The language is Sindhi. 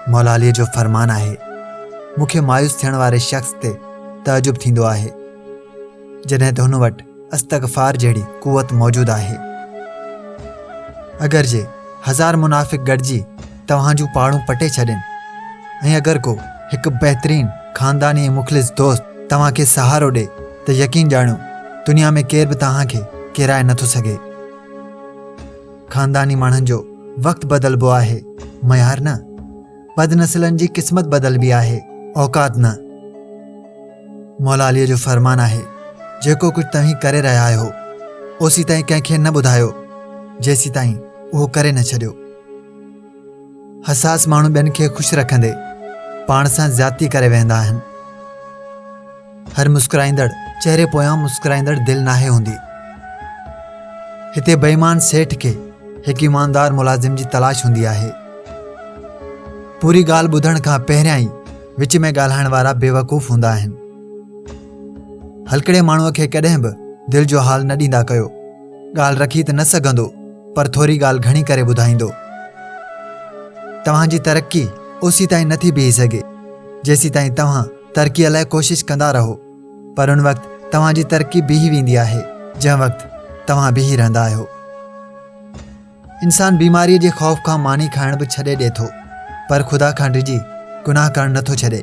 مولا علي جو فرمان آهي مون کي مايوس ٿيڻ واري شخص تي تعجب ٿيندو آهي جڏهن ته هن وٽ استغفار جهڙي قوت موجود آهي اگر جي هزار منافق گڏجي توهان جون پاڙون پٽي ڇڏين ۽ اگر ڪو هڪ بهترين خانداني ۽ مخلص دوست توهان کي سهارو ڏي ته يقين ڄاڻو دنيا ۾ ڪير به توهان کي ڪيرائي نٿو سگهي خانداني ماڻهن جو وقت بدلبو آهي معيار نه بد نسلن جي قسمت بدلبي آهي اوقات نه مولا علي جو فرمان آهي جيڪو ڪجهه توهين ڪري رهيا آهيو اوسي تائين ڪنهن کي نه ٻڌايو جيسي تائين اهو ڪري نه ڇڏيو حساس ماڻهو ٻين کي خوش رکندي پاڻ سان زيادتي ڪري ويهندا آهن هر مسڪرائيندڙ چهري پويان مسڪرائيندڙ دل ناهي هوندي. هتي بيمان سيٺ کي هڪ ايماندار ملازم جي تلاش هوندي آهي. پوري ڳالهه ٻڌڻ کان پهريان ئي وچ ۾ ڳالهائڻ وارا بيوقوف هوندا آهن. هلڪڙي ماڻهوء کي ڪڏهن به دل جو حال نه ڏيندا ڪيو. ڳالهه رکي ته نه سگهندو پر ٿوري ڳالهه گهڻي ڪري ٻڌائيندو. توهان جي ترقي اوسيتائين نٿي بيهي سگهي جيسيتائين توهان ترقيء لاء ڪوشش ڪندا رهو پر ان وقت توهان جي ترقي بيهي ويندي آهي جنهن وقت توهان بيهي رهندا آهيو. انسان بيماريء جي خوف کان ماني کائڻ به ڇڏي ڏي ٿو پر خدا کان ڊڄي گناهه ڪرڻ نه ٿو ڇڏي.